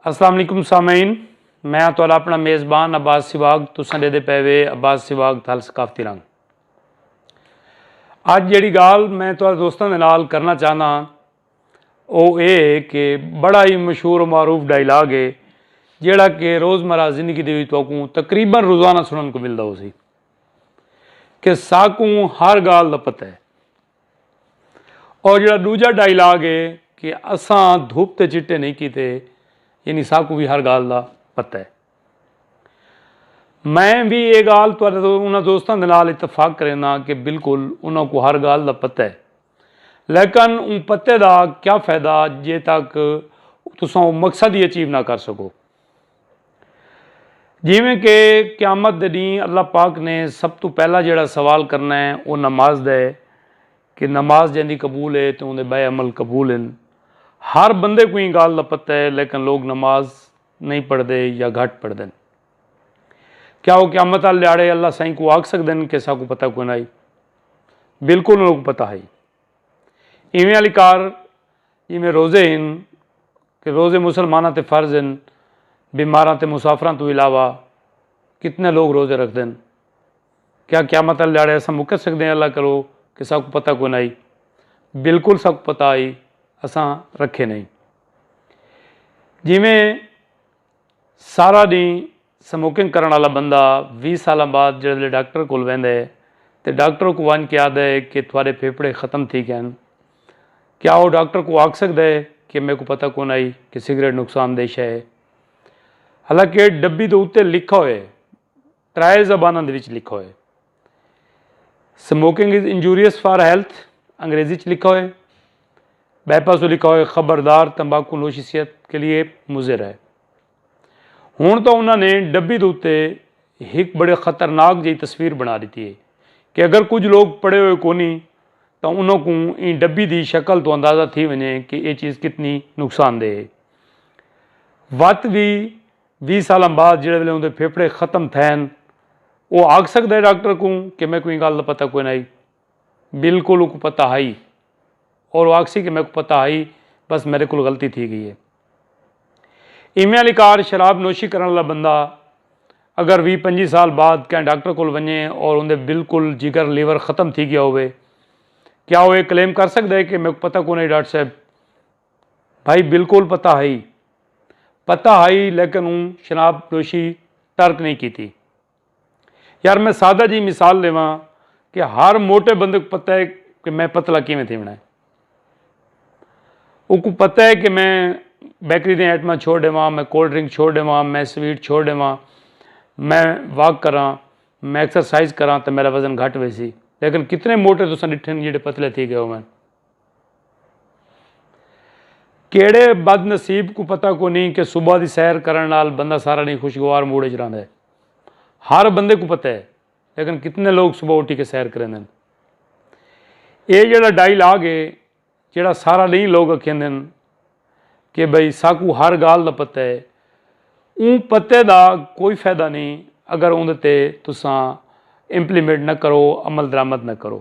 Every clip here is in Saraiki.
السلام علیکم سامعین میں ہاں تہاڈا اپنا میزبان عباس سواگ تساں دے دے پے وے عباس سواگ تھل ثقافتی رنگ اج جیڑی گال میں تہاڈے دوستاں دے نال کرنا چاہنا ہاں او اے ہے کہ بڑا ہی مشہور و معروف ڈائیلاگ ہے جیڑا کہ روزمرہ زندگی دے وچ تہاکوں تقریبا روزانہ سنن کو ملدا ہوسی کہ ساکوں ہر گال دا پتہ ہے اور جڑا دوجا ڈائیلاگ ہے کہ اساں دھوپ تے چٹے نہیں کیتے یعنی ساکو بھی ہر گال دا پتہ ہے میں بھی یہ گال تو انہاں دوستاں دے نال اتفاق کرینا کہ بالکل انہاں کو ہر گال دا پتہ ہے لیکن ان پتے دا کیا فائدہ جے تک تساں وہ مقصد ہی اچیو نہ کر سکو جیویں کہ قیامت دے ڈینہہ اللہ پاک نے سب توں پہلا جیڑا سوال کرنا ہے او نماز دا ہے کہ نماز جیندی قبول ہے تے اوندے بئے عمل قبول ہن ہر بندے کوں ایں گالھ دا پتہ ہے لیکن لوگ نماز نہیں پڑھدے یا گھٹ پڑھدن کیا او قیامت آلے ڈیہاڑے اللہ سائیں کوں آکھ سکدن کہ ساکوں پتہ کوئی نہ ہئی بالکل انہاں کوں پتہ ہئی ایویں آلی کار جیویں روزے ہن کہ روزے مسلماناں تے فرض ہن، بیماراں تے مسافراں توں علاوہ کتنے لوگ روزے رکھدن۔ کیا قیامت آلے ڈیہاڑے اساں مکر سکدے ہیں اللہ کولو کہ ساکوں پتہ کوئی نہ ہئی۔ بالکل ساکوں پتہ ہئی اساں رکھے نئیں۔ جیویں سارا ڈینہہ سموکنگ کرݨ آلا بندہ ویہہ سالاں بعد جیڑھے ویلے ڈاکٹر کول ویندے تے ڈاکٹر اوکوں ونڄ کے آہدے کہ تہاڈے پھیپھڑے ختم تھی گئن کیا او ڈاکٹر کوں آکھ سگدے کہ میکوں پتہ کونہائی کہ سگریٹ نقصان دہ شئے ہے حالانکہ ڈبی دے اتے لکھا ہوئے ترائے زباناں دے وچ لکھا ہوئے۔ سموکنگ از انجوریئس فار ہیلتھ، انگریزی وچ لکھا ہوئے۔ بائے پاسوں لکھا ہوئے خبردار تمباکو نوشی صحت کے لیے مضر ہے۔ ہن تاں انہاں نے ڈبی دے اتے ہک بڑے خطرناک جئی تصویر بنا ڈتی ہے کہ اگر کجھ لوگ پڑھے ہوئے کونی تاں انہاں کوں ایں ڈبی دی شکل توں اندازہ تھی ونجے کہ اے چیز کتنی نقصان دہ ہے۔ وت وی ویہہ سالاں بعد جیڑھے ویلے اوندے پھیپھڑے ختم تھئے ہن او آکھ سگدا ہے ڈاکٹر کوں کہ میکوں ایں گالھ دا پتہ کوئناں ہئی۔ بالکل اوکوں پتہ ہئی اور او آکھسی کہ میکوں پتہ ہئی بس میڈے کول غلطی تھی گئی ہے۔ ایویں آلی کار شراب نوشی کرن آلا بندہ اگر ویہہ پنجی سال بعد کہیں ڈاکٹر کول ونجے اور اوندے بالکل جگر لیور ختم تھی گیا ہووے کیا او اے کلیم کر سگدا ہے کہ میکوں پتہ کوئناں ہئی ڈاکٹر صاحب بھائی بالکل پتہ ہئی۔ پتہ ہئی لیکن اوں شراب نوشی ترک نہیں کیتی۔ یار میں سادہ جئی مثال ڈیواں کہ ہر موٹے بندے کوں پتہ ہے کہ میں پتلا کیویں تھیوݨا ہے۔ اوکوں پتہ ہے کہ میں بیکری دیاں آئٹماں چھوڑ ڈیواں، میں کولڈ ڈرنک چھوڑ ڈیواں، میں سویٹ چھوڑ ڈیواں، میں واک کراں، میں ایکسرسائز کراں تے میݙا وزن گھٹ ویسی۔ لیکن کتنے موٹے تساں ڈٹھن جیہڑے پتلے تھی ڳئے ہوون۔ کیڑھے بد نصیب کوں پتہ کونی کہ صبح دی سیر کرݨ نال بندہ سارا ݙینھ خوشگوار موڈ اچ رہندا ہے۔ ہر بندے کوں پتہ ہے لیکن کتنے لوگ صبح اٹھی کے سیر کریندن۔ ایہ جیڑھا ڈائی لاگ ہے جیڑھا سارا ݙینھ لوگ اکھیندن کہ بھئی ساکوں ہر گالھ دا پتہ ہے اوں پتے دا کوئی فائدہ نی اگر اوندے تے تساں امپلیمنٹ نہ کرو عمل درآمد نہ کرو۔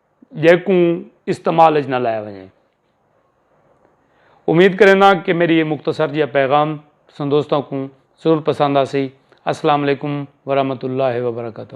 جیکوں استعمال اچ نہ لایا ونجے۔ امید کرینداں کہ میڈی ایہ مختصر جیہا پیغام تساں دوستاں کوں ضرور پسند آسی۔ السلام علیکم ورحمۃ اللہ وبرکاتہ۔